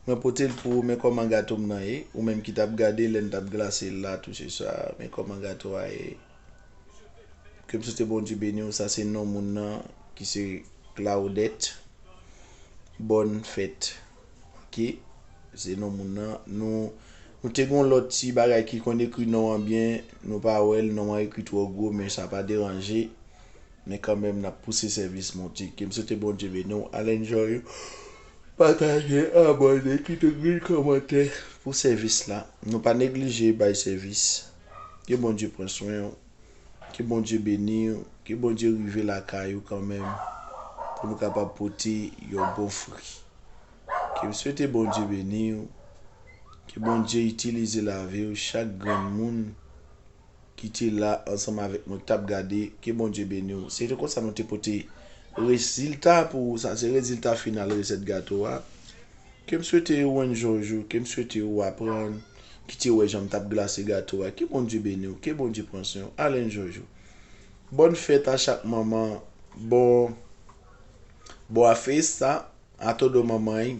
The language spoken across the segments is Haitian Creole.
Mwen pote l pou ou men kòman gato m nan ye ou menm ki t ap gade lè n t ap glase l la touche sa men kòman gato a ye ke m swete Bondye beni w sa se non moun nan ki se Claudette bòn fèt ok se non moun nan nou nou te gon lòt ti bagay ki konn ekri non an byen nou pa wè l non an ekri twò gwo men sa pa deranje Men kanmenm nap pouse sèvis Bondye. Kem swete Bondye beni w al enjoy ou pataje abòne kite grenn kòmantè pou sèvis la nou pa neglije bay sèvis ke Bondye pran swen w ke Bondye beni w ke Bondye rive lakay ou kanmenm pou nou kapab pote yon bon fri kem swete Bondye beni w ke Bondye itilize lavi w chak grenn moun. ki te la ansanm avèk mwen ki tap gade ke Bondye beniw se te konsa nou te pote rezilta pou ou sa se rezilta final resèt gato a kem swete ou enjoy jou kem swete ou aprann ki te wè janm tap glase gato a ke Bondye beniw ke Bondye pran swen ou al enjoy jou bòn fèt a chak manman bon Boa festa a todo mamãe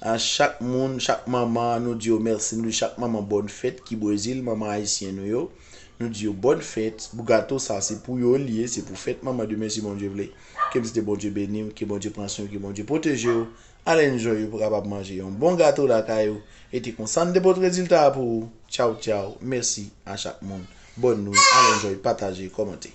A chak moun, chak manman nou di yo mèsi nou di chak manman bòn fèt ki brezil manman ayisyen nou yo nou di yo bòn fèt pou gato sa se pou yo li ye se pou fèt manman demen si Bondye vle ke msite Bondye beniw ke Bondye pran swen w ke Bondye pwotejew alen jwen yo pou kapab manje yon bon gato lakay ou e te konsa mte pot rezilta a pou ou tchawtchaw mèsi a chak moun bòn nwi alen jwen pataje kòmante.